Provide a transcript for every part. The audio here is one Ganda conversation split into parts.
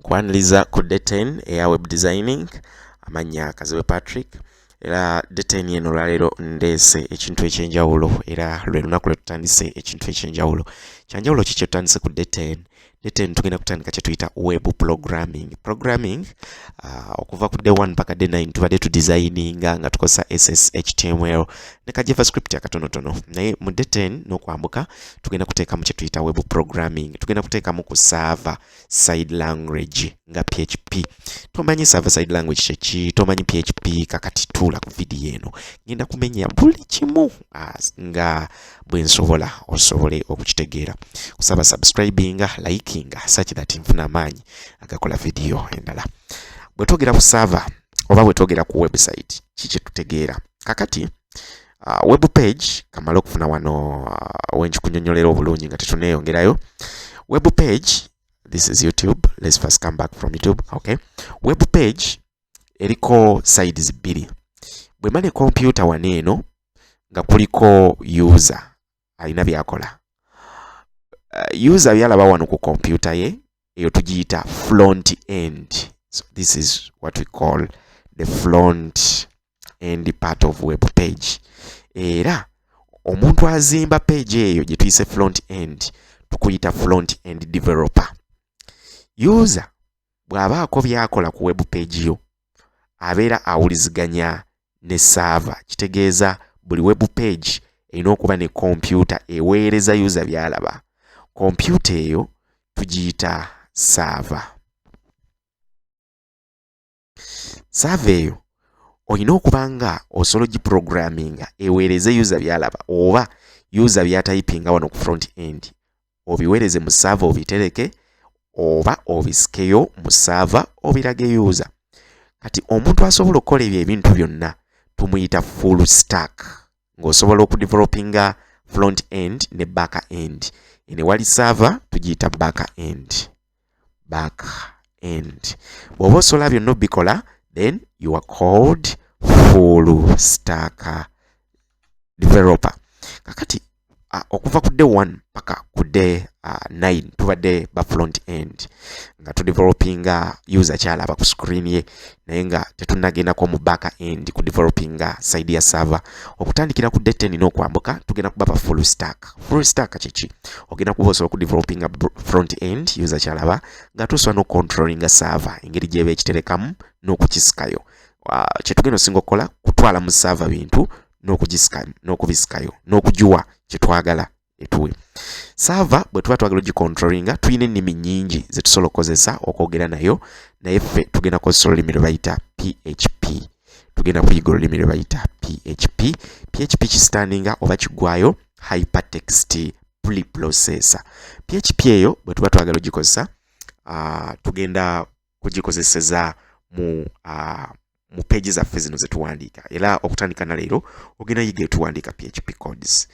kwaniriza ku detain eya web designing amannya kazibe patrick era detain eno olwaleero ndeese ekintu ekyenjawulo era lwe lunaku lwe tutandise ekintu ekyenjawulo kyanjawulo ki kyetutandise ku detain detain tugenda kutandika kyetuyita web programming programming uh, okuva ku day one paka day nine tubadde tudesigninga nga tukozesa sshtml ne ka javascript akatonotono naye mu detain n'okwambuka tugenda kuteekamu kye tuyita web programming tugenda kuteekamu ku server side language nga php tomanyi server side language kyeki tomanyi php kakati tuula ku vidiyo eno ngenda kumenya buli kimu nga bwe nsobola osobole okukitegeera kusaba subscribinga likinga such that nfuna amaanyi agakola vidiyo endala bwe twogera ku server oba bwe twogera ku website ki kye tutegeera kakati uh, web page kamala okufuna wano uh, wenjikunyonyolera obulungi nga tetuneyongerayo web page this is youtube let's first come back from youtube okay web page eriko sides bbiri bwemane kompyuta wano eno nga kuliko user alina byakola uh, user byalaba wano ku kompyuta ye eyo tugiyita front end so this is what we call the front end part of web page era omuntu azimba page eyo gye tuyise front end tukuyita front end developer user bw'abaako by'akola ku web page yo abeera awuliziganya ne saava kitegeeza buli web page erina okuba ne kompyuta eweereza yuza byalaba kompyuta eyo tugiyita saava saava eyo olina okuba nga osobola ogiprogramminga eweereze yuza byalaba oba yuza byatayipinga wano ku front end obiwereze mu saava obitereke oba obisikeyo mu saava obirage yuuza kati omuntu asobola okukola ebyo ebintu byonna tumuyita full stack ng'osobola okudevelopinga front end ne back end ene wali saava tugiyita back end back end bw'oba osobola byonna obikola then you are called full stack developer kakati uh, okuva ku day one paka ku day uh, nine tubadde ba front end nga tudevelopinga user kyalaba ku screen ye naye nga tetunagendako mu back end ku developing nga side ya server okutandikira ku date nina okwambuka tugenda kubaba full stack full stack kiki ogenda kuba osobola ku developing front end user kyalaba nga tusobola no controlling server engeri gyeba ekiterekamu n'okukisikayo kyetugenda osinga okukola kutwala mu server bintu n'okubisikayo n'okugiwa kyetwagala etuwe saava bwe tuba twagala ogikontrolinga tulina ennimi nyingi ze tusobola okukozesa okwogera nayo naye ffe tugenda kukozesa olulimi lwe bayita php tugenda kuyiga olulimi lwe bayita php php kisitandinga oba kigwayo hypertext preprocessor php eyo bwe tuba twagala ogikozesa uh, tugenda kugikozeseza mu uh, mu peegi zaffe zino zetuwandiika era okutandika na leero ogenda yiga etuwandiika php codes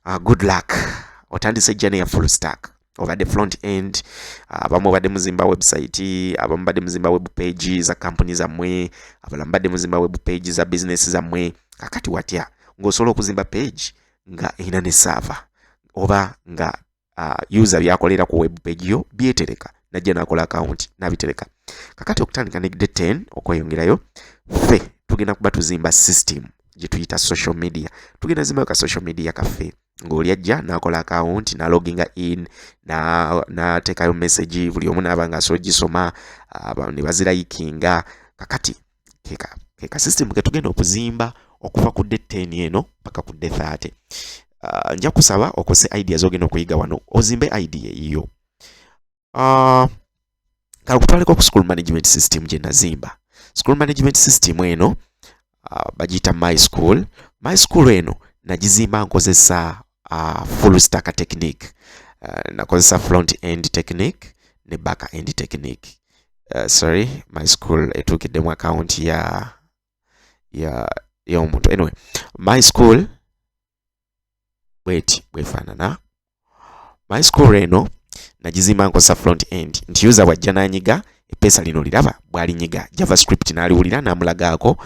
uh, good luck otandise jjana ya full stack obadde front end ah, abamu obadde muzimba website abamu badde muzimba web page za kampuni zammwe abalamu badde muzimba web page za business zammwe kakati watya ng'osobola okuzimba page nga erina ne saava oba nga uh, user byakolera ku web page yo byetereka najja nakola account nabitereka kakati okutandika ne day 10 okweyongerayo ffe tugenda kuba tuzimba system gye tuyita social media tugenda zimba ka social media kaffe ng'oli ajja n'akola akawunti naloginga in n'ateekayo message buli omu naaba nga asobola gisoma ne bazirayikinga kakati keka keka system ke tugenda okuzimba okuva ku date 10 eno paka ku date 30 uh, nja kusaba okose ideas ogenda okuyiga wano ozimbe idea eyiyo uh, ah, kalukutwaleko ku school management system gye nazimba school management system eno uh, ah, bagiyita my school my school eno nagizimba nkozesa uh, full stack technique uh, nakozesa front end technique ne back end technique uh, sorry my school etuukiddemu account ya ya y'omuntu anyway my school bweti bwefaanana my school eno nagizimba nkozesa front end nti user bwajja nanyiga epeesa lino liraba bwalinyiga javascript n'aliwulira n'amulagaako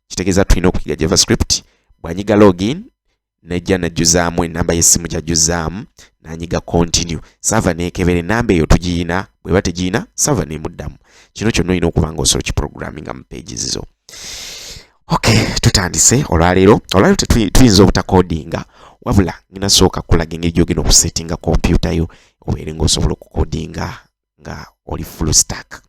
kitegeeza tulina okuyiga javascript bwanyiga login najja najjuzaamu enamba y'essimu gyajjuzaamu nanyiga continue sava nekebera enamba eyo tugiyina bweba tegiyina sava nemuddamu kino kyonna olina okuba nga osobola kiprogramminga mu pages zo okay tutandise olwaleero olwaleero tetuyinza obutakodinga wabula ngina sooka kulaga engeri gyogenda okusettinga kompyuta yo obeere nga osobola okukodinga nga oli full stack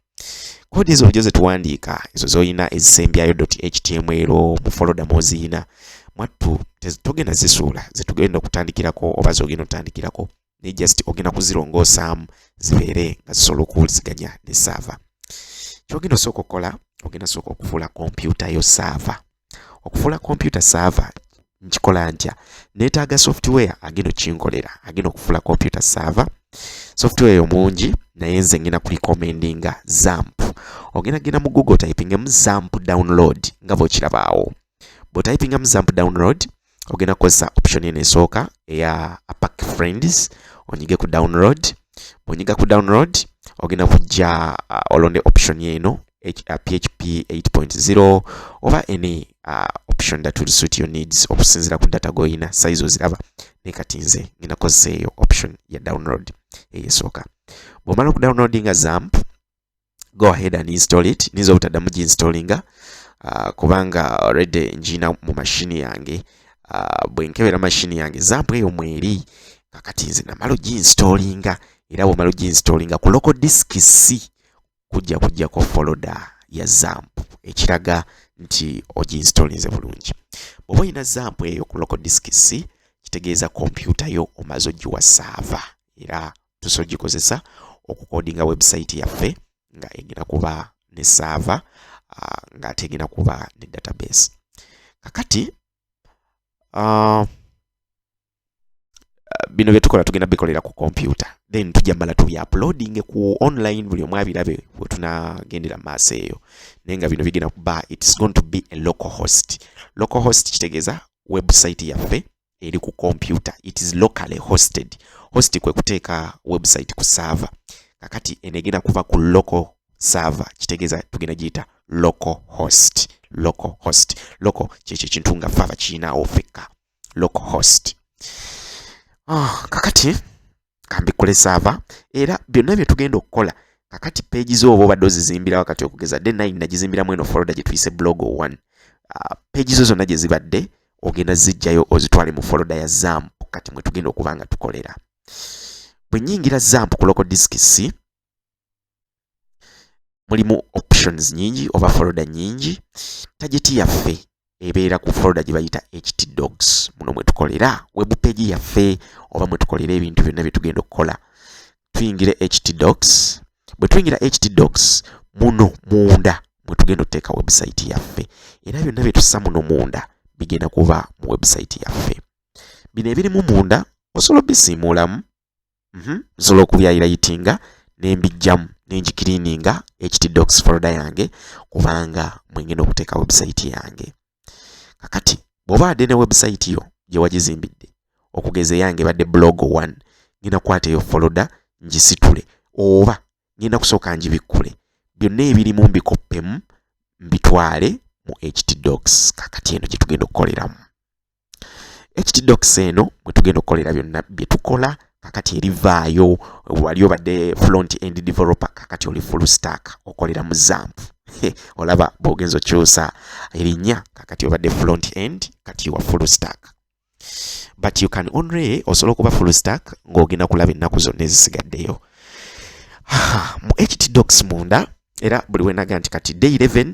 kodi ezo ojo zetuwandiika ezo zolina ezisembyayo html mu foloda mwoziyina mwattu togenda zisuula zetugenda okutandikirako oba zogenda otandikirako naye just ogenda kuzirongosaamu zibeere nga zisobola okuwuliziganya ne saava kyogenda osooka okukola ogenda sooka okufuula kompyuta yo saava okufuula kompyuta saava nkikola ntya neetaaga software agenda okinkolera agenda okufuula kompyuta saava software eyo mungi naye nze ngenda kulikomendinga zamp ogenda genda mu google typingemu zamp download nga bwekirabaawo bwotayipingamu zamp download ogenda kukozesa option eno esooka eya apack friends onyige ku download bwonyiga ku download ogenda kujja uh, olonde option eno php uh, 8.0 oba any uh, option that will suit your needs okusinzira ku data goyina size oziraba naye kati nze ngenda kozesa eyo option ya download eyesooka bwomala okudownloadinga zamp go ahead and install it ninza obutaddamu ginstallinga uh, kubanga already ngiina mu mashini yange uh, bwe nkebera mashini yange zampu eyo mweri kakati nze namala oginstallinga era bwomala oginstallinga ku local disk c kujja kujjako foloda ya zampu ekiraga nti oginstallinze bulungi bwoba olina zampu eyo ku local disk c kitegeeza kompyuta yo omaze ogiwa saava era tusobola gikozesa okukodinga website yaffe nga egenda kuba ne saava ah, nga ate egenda kuba ne database kakati ah, bino byetukola tugenda bikolera ku kompyuta then tujja mala tubi uploading ku online buli omu abirabe wetunagendera maaso eyo naye nga bino bigenda kuba its going to be a local host local host kitegeeza website yaffe eri ku computer it is locally hosted host kwe kuteeka website ku server kakati enegenda kuva ku local server kitegeeza tugenda giyita local host local host local kyekyo ekintu nga fava kirinawo fekka local host oh, kakati kambikole saava era byonna bye tugenda okukola kakati peegi zo oba obadde ozizimbira wakati okugeza de nine nagizimbiramu eno foloda gye tuyise blog one ah, peegi zo zonna gye zibadde ogenda zijjayo ozitwale mu foloda ya zamp kati mwe tugenda okuba nga tukolera bwe nyingira zamp ku loko disiki si mulimu options nyingi oba foloda nyingi tageti yaffe ebeera ku foloda gye bayita ht dogs muno mwe tukolera webu peegi yaffe oba mwe tukolera ebintu byonna bye tugenda okukola tuyingira ht dogs bwe tuyingira ht dogs muno munda mwe tugenda okuteeka website yaffe era byonna bye tussa muno munda bigenda kuba mu website yaffe bino ebirimu munda osobola obisiimuulamu mhm. nsobola okubyayirayitinga nembijjamu nenjikiriininga htdox folda yange kubanga mwengenda okuteeka website yange kakati bwoba adde ne website yo gyewagizimbidde okugeza eyange badde blog 1 ngenda kwata eyo folda ngisitule oba ngenda kusooka ngibikkule byonna ebirimu mbikoppemu mbitwale mu htdox kakati eno gyetugenda okukoleramu ekitidokisi eno mwe tugenda okukolera byonna bye tukola kakati erivaayo wali obadde front end developer kakati oli full stack okolera mu zamp olaba bwogenza okyusa erinnya kakati obadde front end kati wa full stack but you can only osobola okuba full stack ng'ogenda kulaba ennaku zonna ezisigaddeyo mu htdocs munda era buli wenaga nti kati day 11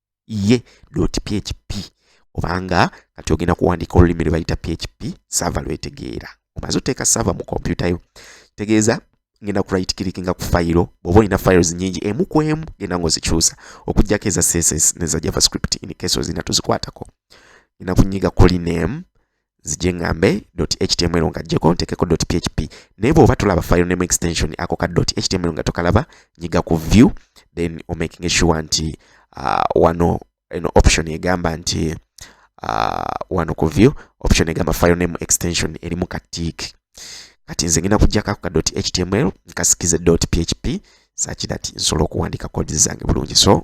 ye dot php obanga kati ogenda kuwandiika olulimi lwe bayita php sava lwetegeera omaze oteeka sava mu kompyuta yo tegeeza ngenda ku right click nga ku fayiro bw'oba olina files nyingi emu ku emu genda ng'ozikyusa okuggyako eza css neza javascript in case ozina tozikwatako ngenda kunyiga kuli name zije ngambe html nga jeko ntekeko php naye bwoba tolaba file name extension ako ka html nga tokalaba nyiga ku view then omaking sure nti uh, wano eno option egamba nti uh, wano ku view option egamba file name extension erimu ka tick kati nze ngenda kujjako ako ka html nkasikize php such that nsobola okuwandiika kodi zange bulungi so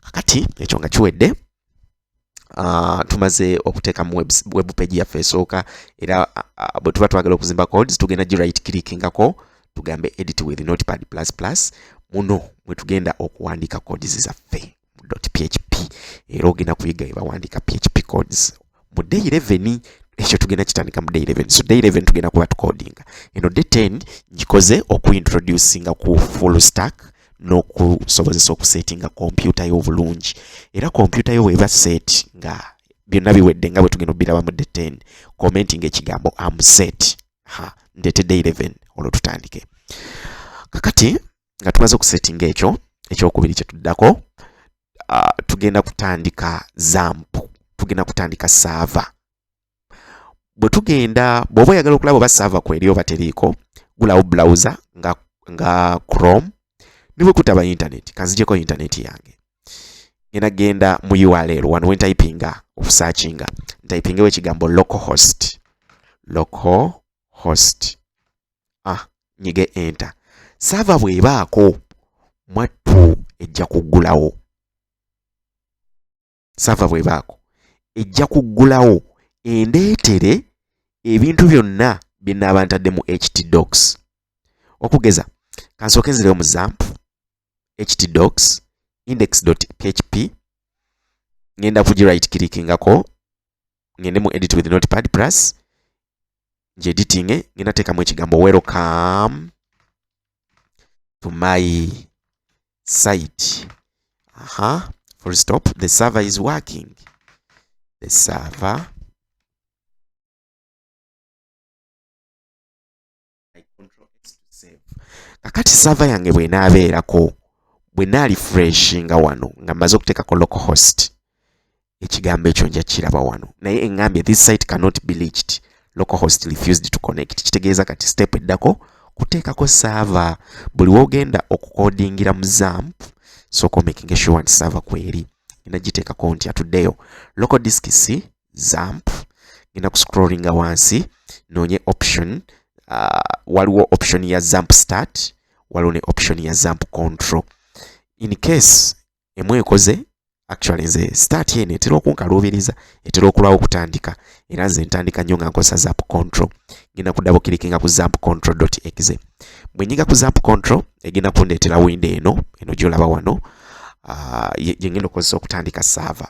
kakati ekyo nga kiwedde Uh, tumaze okuteeka mu web page yaffe esooka era uh, bwe tuba twagala okuzimba codes tugenda gi right clickingako tugambe edit with notepad plus plus muno mwe tugenda okuwandiika codes zaffe mu php era ogenda kuyiga ebawandiika php codes mu day 11 ekyo tugenda kitandika mu day 11 so day 11 tugenda kuba tukodinga eno day 10 ngikoze okuintroducinga ku full stack n'okusobozesa okusetinga kompyuta yo obulungi era kompyuta yo weba set nga byonna biwedde nga bwe tugenda obiraba mu day 10 commenting ekigambo am set ha ndete day 11 olwo tutandike kakati nga tumaze okusettinga ekyo ekyokubiri kyetuddako uh, tugenda kutandika zampu tugenda kutandika saava bwe tugenda bw'oba oyagala okulaba oba saava kweri oba teriiko gulawo browser nga, nga chrome ne bwe kutaba intaneti kanzijeko intaneti yange ngenda genda mu url wano wentayipinga okusaakinga ntayipingewo ekigambo local host local host ah nyige enter sava bwebaako mwattu ejja kuggulawo sava bwebaako ejja kuggulawo endeetere ebintu byonna bye nnaaba ntadde mu htdocs okugeza kansooke nzireyo mu zampu htdocs index.php ngenda kugi right clickingako ngende mu edit with notepad plus ngi editing ngenda teekamu ekigambo welcome to my site aha full stop the server is working the server kakati sava yange bwenaabeerako bwe naali fresh nga wano nga mmaze okuteekako local host ekigambo ekyo nja kiraba wano naye engambye this site cannot be leached local host refused to connect kitegeeza kati step eddako kuteekako saava buli wogenda okukodingira mu zamp sooka omekinga sure nti saava kweri ena giteekako nti atuddeyo local disk c zamp ngenda ku scrollinga wansi noonye option uh, waliwo option ya zamp start waliwo ne option ya zamp control in case emu ekoze actually nze start eno etera okunkaluubiriza etera okulwawo okutandika era nze ntandika nnyo nga nkozesa zap control ngenda kudabo kilikinga ku zap control exe bwe nyiga ku zap control egenda kundeetera windo eno eno gyolaba wano uh, ah, gyengenda okukozesa okutandika saava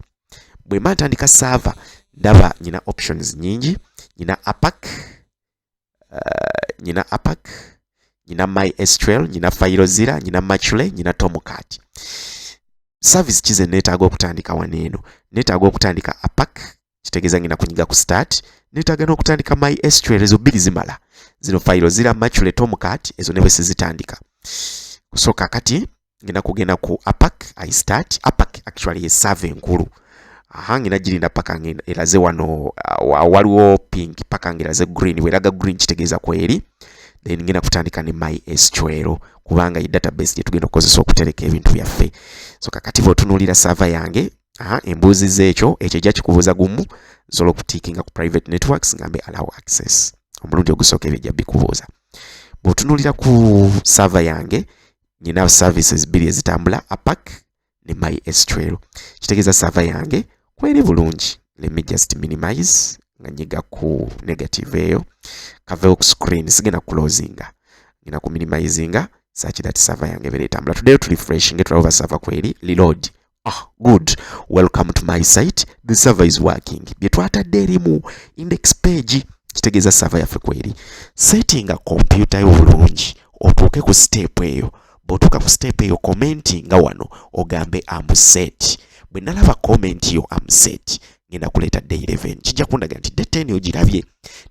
bwe mba ntandika saava ndaba nyina options nyingi nyina apac uh, eh, nyina apac nyina my sql nyina fairozira nyina machule nyina tomcat service kize neetaaga okutandika wano eno neetaaga okutandika apac kitegeeza ngenda kunyiga ku start neetaaga n'okutandika my sql ezo bbiri zimala zino fayiro zira machule tomcat ezo ne bwe sizitandika so kakati ngenda kugenda ku apak i start apak actually yesava enkulu aha ngenda girinda paka ngeraze wano uh, waliwo pink paka ngeraze green weraga green kitegeeza kweri then ngenda kutandika ne my sql kubanga ye database gye tugenda okukozesa okutereka ebintu byaffe so kakati bwotunuulira sava yange aha embuuzi zeekyo ekyo ejja kikubuuza gumu nsobola okutiikinga ku private networks ngambe allow access omulundi ogusooka ebyo ejja bikubuuza bwotunuulira ku sava yange nina services bbiri ezitambula apac ne my estrel kitegeeza sava yange kweri bulungi let me just minimize nga nyiga ku negative eyo kavewo ku screen sigenda kulozinga ngenda ku minimizinga sakira ti sava yange ebeera etambula tuddeyo tu refreshinge tulaba oba sava kweri reload Ah, good. Welcome to my site. The server is working. Bye twatadde erimu index page kitegeeza server yaffe kweri. Setting a computer yo bulungi otuuke ku step eyo. Bw'otuuka ku step eyo comment nga wano ogambe am set. Bwe nalaba comment yo am set ngenda kuleeta day 11. Kijja kundaga nti day 10 ogirabye.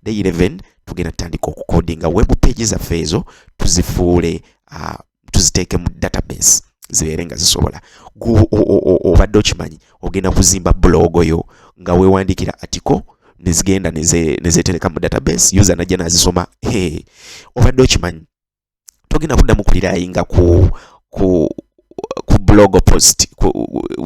Day 11 tugenda tutandika okukodinga web page zaffe ezo tuzifuule uh, tuziteeke mu database zibeere nga zisobola obadde okimanyi ogenda kuzimba bulogo yo nga wewandiikira atiko nezigenda nezetereka mu database user najja nazisoma obadde okimanyi togenda kuddamu kulirayinga ku ku ku blog post ku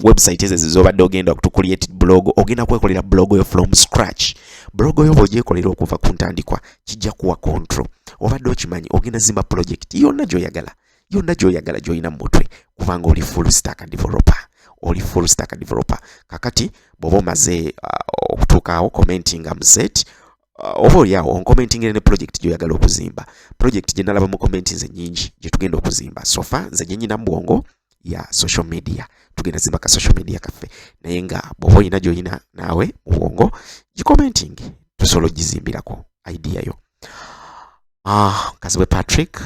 website ezo zobadde ogenda to create blog ogenda kwekolera blog yo from scratch blog yo bwogyekolera okuva ku ntandikwa kijja kuwa control. Obadde okimanyi ogenda zimba project yonna gy'oyagala yonna gy'oyagala gy'olina mu mutwe kubanga oli full stack developer oli full stack developer. Kakati bw'oba omaze uh, okutuukaawo commenting am set uh, oba olyawo onkomentingire ne project gy'oyagala okuzimba project gye nalaba mu commenti nze nyingi gye tugenda okuzimba sofa nze gye nyina mu bwongo ya social media tugenda zimba ka social media kaffe naye nga bwoba olina gyolina naawe mu bwongo gicommenting tusobola ogizimbirako idea yo ah, kazibwe patrick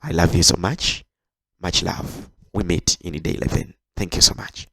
i love you so much much love we meet in day 11 thank you so much